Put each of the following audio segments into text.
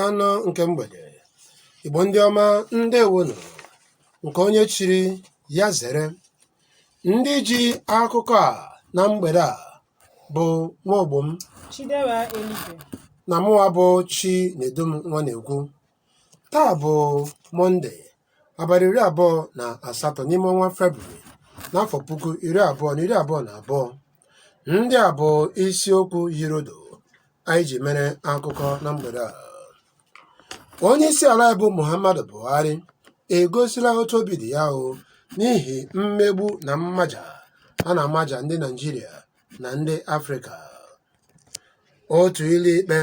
anọ nke mgbede igbo ndị ọma ndewonu nke onye chiri ya zere ndị ji akụkọ a na mgbede a bụ nwa ogbo m na mụwa bụ Chinedum Nwanekwu taa bụ mọnde abalị iri abụọ na asatọ n'ime ọnwa Febrụwarị n'afọ puku iri abụọ na iri abụọ na abụọ. Ndị a bụ isiokwu yirodo anyị ji mere akụkọ na mgbede a. Onye isi ala bụ Muhammadu Buhari egosila otu obi dị ya o n'ihi mmegbu na mmaja a na-amaja ndị Naịjirịa na ndị Afrịka. Otu ụlọikpe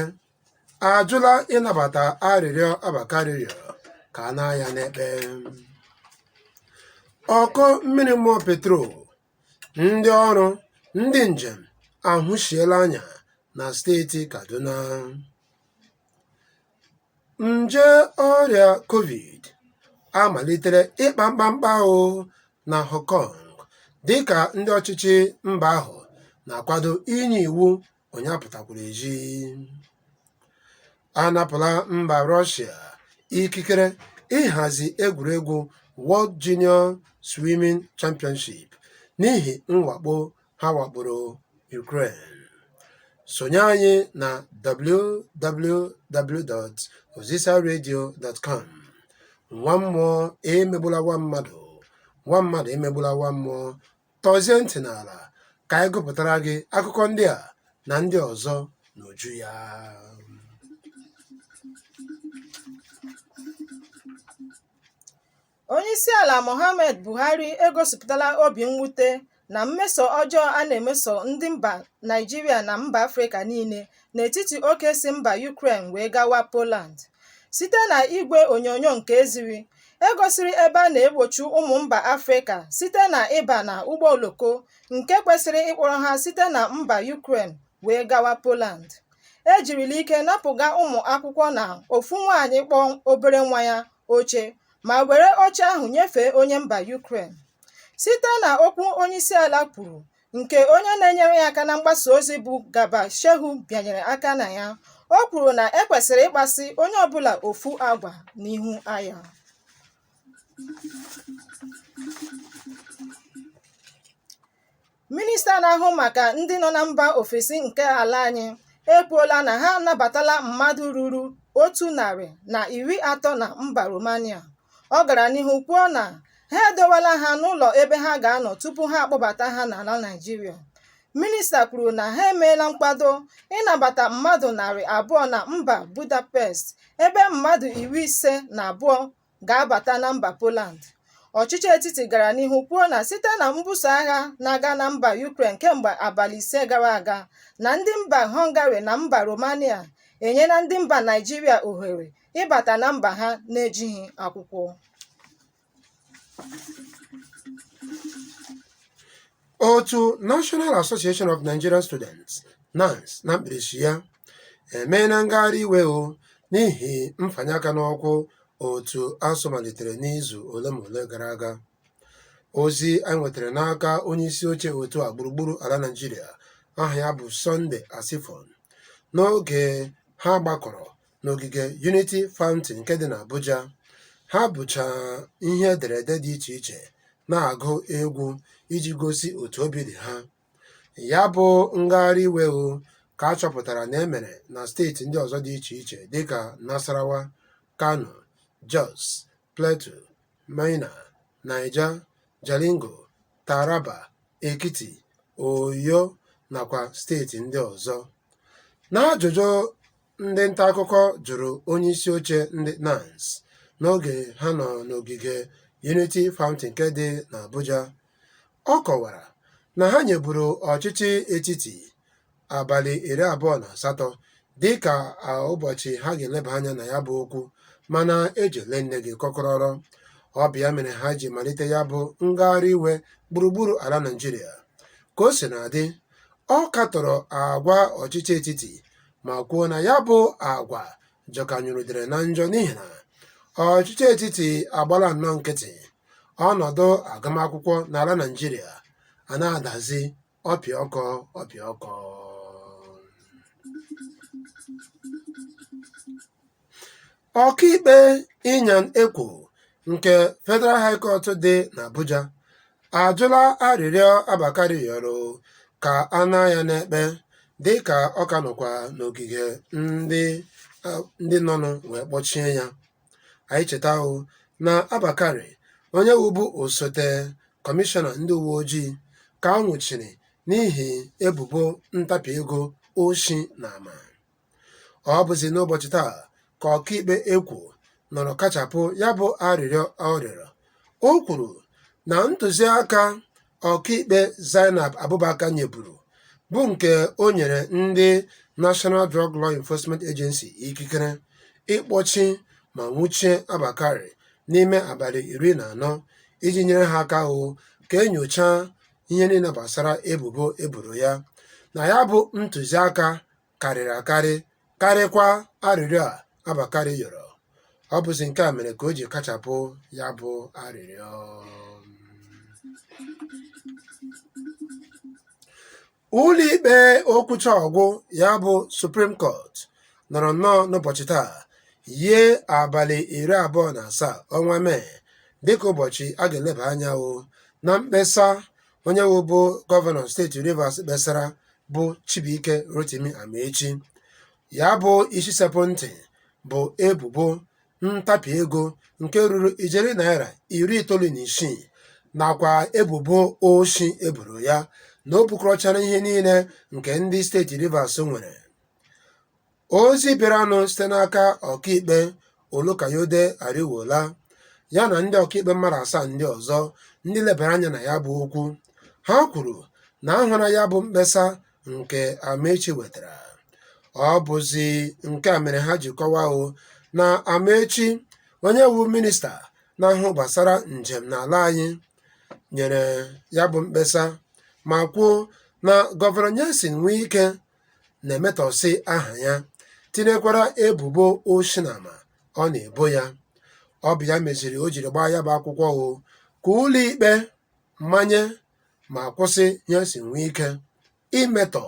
ajụla ịnabata arịrịọ Abba Kyari rịọrọ ka a naa ya n'ekpe. Ụkọ mmiri mmụọ petrol, ndị ọrụ, ndị njem ahụsiela anya na steeti Kaduna. Nje ọrịa covid amalitere ịkpa mkpamkpa ahụ na Hong Kong dịka ndị ọchịchị mba ahụ na-akwado inye iwu onye apụtakwala ezi anapụla mba rọshia ikikere ịhazi egwuregwu World Junior Swimming Championship n'ihi mwakpo ha wakporo Ukraine sonye anyị na www.ozisaradio.com nwa mmụọ emegbula nwa mmadụ nwa mmadụ emegbula nwa mmụọ Tọzie ntị n'ala ka anyị gụpụtara gị akụkọ ndị a na ndị ọzọ n'uju ya. Onyeisiala Muhammad Buhari egosipụtala obi mwute na mmeso ọjọọ a na-emeso ndị mba Naịjirịa na mba Afrịka niile n'etiti oke si mba Yukren wee gawa Poland. Site na igwe onyonyo nke e ziri, e gosiri ebe a na-egbochi ụmụ mba Afrịka site na ịba na ụgbọ oloko nke kwesịrị ịkpọrọ ha site na mba Yukren wee gawa Poland. E jirila ike napụga ụmụ akwụkwọ na ofu nwaanyị kpọ obere nwa ya oche ma were oche ahụ nyefee onye mba Yukren. Site na okwu onyeisiala kwuru, nke onye na-enyere ya aka na mgbasa ozi bụ Garba Shehu bịanyere aka na ya o kwuru na e kwesịrị ịkpaso onye ọbụla ofu agwa n'ihu aya minista na-ahụ maka ndị nọ na mba ofesi nke ala anyị ekwuola na ha anabatala mmadụ ruru otu narị na iri atọ na mba Romania Ọ gara n'ihu kwuo na ha edowala ha n'ụlọ ebe ha ga-anọ tupu ha akpọbata ha n'ala Naịjirịa. Minista kwuru na ha emeela nkwado ịnabata mmadụ narị abụọ na mba Budapest ebe mmadụ iri ise na abụọ ga-abata na mba Poland. Ọchịchị etiti gara n'ihu kwuo na site na mbuso agha na-aga na mba Ukraine kemgbe abalị ise gara aga na ndị mba Hungary na mba Romania enyela ndị mba Naịjirịa ohere ịbata na mba ha na-ejighị akwụkwọ otu National Association of Nigerian Students NANS na mkpirisi ya emeela ngagharị iwe o n'ihi mfanye aka n'ọkwụ otu ASUU malitere n'izu ole ma ole gara aga ozi anyị nwetara n'aka onye isi oche otu a gburugburu ala Naịjirịa aha ya bụ Sunday Asefon n'oge ha gbakọrọ n'ogige Unity Fountain nke dị n'Abuja. ha bucha ihe ederede dị iche iche na-agụ egwu iji gosi otu obi dị ha. Ya bụ ngagharị iwe o ka a chọpụtara na e mere na steeti ndị ọzọ dị iche iche dịka Nasarawa, Kano, Jos, Plateau, Minna, Niger, Jalingo, Taraba, Ekiti, Oyo nakwa steeti ndị ọzọ. N'ajụjụ Ndị nta akụkọ jụrụ onye isi oche ndị NANS n'oge ha nọ n'ogige Unity Fountain nke dị n'Abuja. Ọ kọwara na ha nyeburu ọchịchị etiti abalị iri abụọ na asatọ dịka ụbọchị ha ga-eleba anya na ya bụ okwu mana ejile nne gị kọkọrọrọ ọ bụ ya mere ha ji malite ya bụ ngagharị iwe gburugburu ala Naịjirịa ka o sina dị ọ katọrọ agwa ọchịchị etiti ma kwuo na ya bụ agwa jọkanyụrụ udele na njọ n'ihi na ọchịchị etiti agbala nnọọ nkịtị ọnọdụ agụmakwụkwọ n'ala Naịjirịa a na-adazi ọpịọkọ ọpịọkọ Ọkaikpe Inyang Ekwo nke Federal High Court dị n'Abuja ajụla arịrịọ Abba Kyari rịọrọ ka a naa ya n'ekpe dịka ọ ka nọkwa n'ogige ndị nọnụ wee kpọchie ya. Anyị cheta o na Abba Kyari onye wụbu osote kọmishọna ndị uwe ojii ka a nwụchiri n'ihi ebubo ntapi ego oshi na ama. ọ bụzi n'ụbọchị taa ka ọkaikpe Ekwo nọrọ kachapụ ya bụ arịrịọ ọ rịọrọ o kwuru na ntụziaka ọkaikpe Zainab Abubakar nyeburu bụ nke o nyere ndị National Drug Law Enforcement Agency ikikere ịkpọchi ma nwụchie Abba Kyari n'ime abalị iri na anọ iji nyere ha aka hụ ka enyochaa ihe niile gbasara ebubo eboro ya na ya bụ ntụziaka karịrị akarị karịkwa arịrịọ a Abba Kyari yọrọ ọ bụzi nke a mere ka o ji kachapụ ya bụ arịrịọ ụlọikpe okwucha ọ gwụ ya bụ Supreme Court nọrọ nnọọ n'ụbọchị taa yie abalị iri abụọ na asaa ọnwa Mee dịka ụbọchị a ga-eleba anya o na mkpesa onye wụbu gọvanọ steeti Rivers kpesara bụ Chibuike Rotimi Amaechi ya bụ isi sekpụ ntị bụ ebubo ntapi ego nke ruru ijeri naira iri itoolu na isii nakwa ebubo oshi eboro ya na o bukọrọchara ihe niile nke ndị steeti Rivers nwere Ozi bịaranụ site n'aka ọkaikpe Olukayode Ariwoola ya na ndị ọkaikpe mmadụ asaa ndị ọzọ ndị lebara anya na ya bụ okwu. Ha kwuru na a hụla ya bụ mkpesa nke Amaechi wetara. Ọ bụzi nke a mere ha ji kọwaa o na Amaechi onye wu minista na-ahụ gbasara njem n'ala anyị nyere ya bụ mkpesa ma kwuo na Gọvanọ Nyesom Wike na-emetọsị aha ya tinyekwara ebubo oshi na ama ọ na-ebo ya ọ bụ ya meziri o jiri gbaa ya bụ akwụkwọ o ka ụlọikpe manye ma kwụsị Nyesom Wike imetọ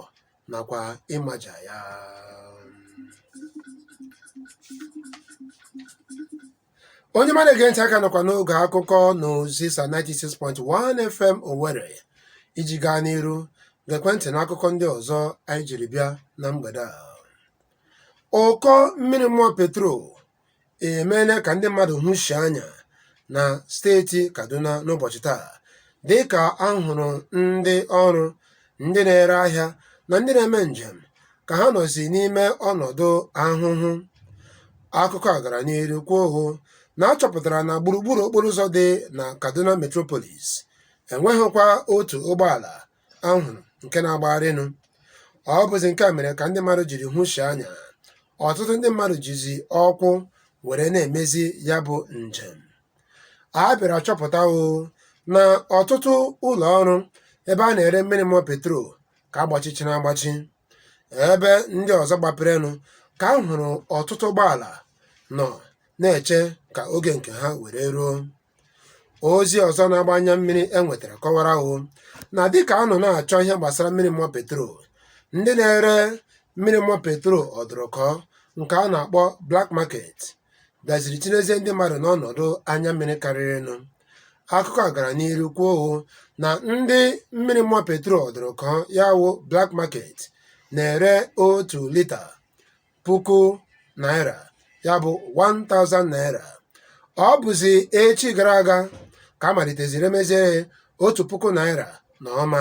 nakwa ịmaja ya onye ọma na-ege ntị a ka nọkwa n'oge akụkọ n'Ozisa 96.1 FM Owerri iji gaa n'iru gekwe ntị na akụkọ ndị ọzọ anyị jiri bịa na mgbede a ụkọ mmiri mmụọ petrol emeela ka ndị mmadụ hụshie anya na steeti Kaduna n'ụbọchị taa dị ka a hụrụ ndị ọrụ ndị na-ere ahịa na ndị na-eme njem ka ha nọzi n'ime ọnọdụ ahụhụ akụkọ a gara n'ihu kwuo o na a chọpụtara na gburugburu okporo ụzọ dị na kaduna metropolis enweghịkwa otu ụgbọala a hụrụ nke na-agbagharịnụ ọ bụzi nke a mere ka ndị mmadụ jiri hụshie anya ọtụtụ ndị mmadụ jizi ọkwụ were na-emezi ya bụ njem a bịara chọpụta o na ọtụtụ ụlọ ọrụ ebe a na-ere mmiri mmụọ petrol ka agbachichiri agbachi ebe ndị ọzọ gbaperenụ ka a hụrụ ọtụtụ ụgbọala nọ na-eche ka oge nke ha were ruo ozi ọzọ na-agba anya mmiri e nwetara kọwara o na dịka a nọ na-achọ ihe gbasara mmiri mmụọ petrol ndị na-ere mmiri mmụọ petrol ọdụrụkọ nke a na-akpọ black market bịaziri tinyezie ndị mmadụ n'ọnọdụ anya mmiri karịrịnụ akụkọ a gara n'iru kwuo o na ndị mmiri mmụọ petrol ọdụrụkọ ya wụ black market na-ere otu lita puku naira ya bụ 1000 naira ọ bụzi echi gara aga ka a maliteziri emezie otu puku naira na ụma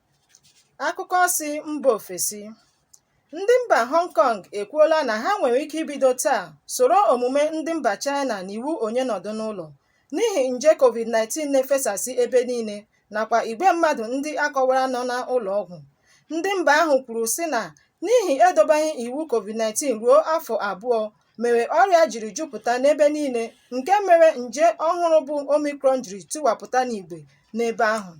Akụkọ si mba ofesi. Ndị mba Hong Kong ekwuola na ha nwere ike ibido taa soro omume ndị mba China na iwu onye nọdụ n'ụlọ n'ihi nje COVID-19 na-efesasị ebe niile nakwa igwe mmadụ ndị akọwara nọ n'ụlọ ọgwụ. Ndị mba ahụ kwuru sị na n'ihi edobeghị iwu COVID-19 ruo afọ abụọ mere ọrịa jiri jupụta n'ebe niile nke mere nje ọhụrụ bụ Omicron jiri tiwapụta n'igwe n'ebe ahụ.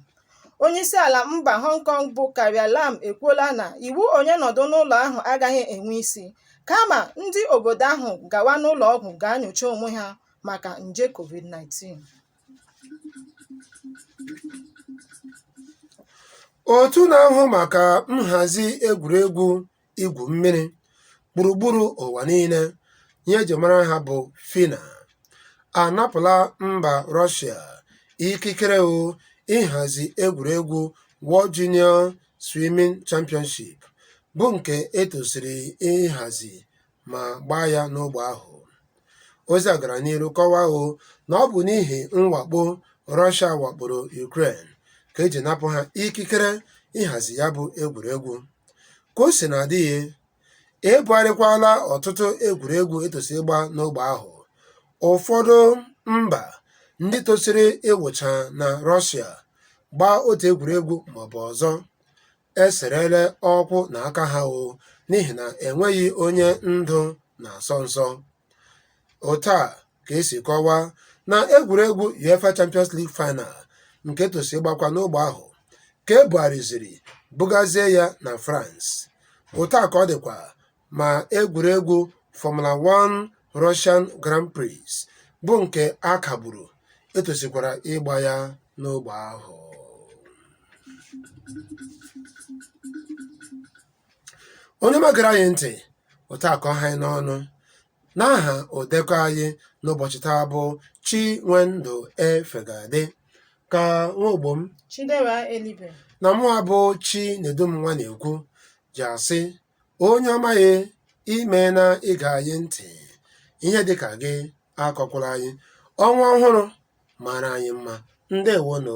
onyeisiala mba hong kong bụ carrie lam ekwuola na iwu onye nọdụ n'ụlọ ahụ agaghị enwe isi kama ndị obodo ahụ gawa n'ụlọ ọgwụ gaa nyocha onwe ha maka nje covid-19 otu na-ahụ maka nhazi egwuregwu igwu mmiri gburugburu ụwa niile ihe eji mara ha bụ FINA anapụla mba Russia ikikere o ịhazi egwuregwu World Junior Swimming Championship bụ nke etosiri ịhazi ma gbaa ya n'ogbe ahụ ozi a gara n'iru kọwaa o na ọ bụ n'ihi mwakpo Russia wakporo Ukraine ka eji napụ ha ikikere ịhazi ya bụ egwuregwu ka o sina dị ebugharịkwala ọtụtụ egwuregwu etosiri ịgba n'ogbe ahụ ụfọdụ mba ndị tosiri ịwụcha na Russia gbaa otu egwuregwu maọbụ ọzọ eserele ụkwụ na aka ha o n'ihi na enweghị onye ndụ na-asọ nsọ otu a ka esi kọwaa na egwuregwu UEFA Champions League final nke tosi ịgbakwa n'ogbe ahụ ka ebugharịziri bugazie ya na France otu a ka ọ dịkwa ma egwuregwu Formula 1 Russian Grand Prix bụ nke a kagburu e tosikwara ịgba ya n'ogbe ahụ onye ọma gere anyị ntị otu a ka ọ ha anyị n'ọnụ n'aha odekọ anyị n'ụbọchị taa bụ Chinwendu Efegade ka nwa ogbo m Chidera Elibe. na mụwa bụ Chinedum Nwanekwu ji asị Onye ọma anyị, imeena ige anyị ntị. Ihe dịka gị akọkwala anyị. Ọnwa ọhụrụ mara anyị mma. Ndewonụ.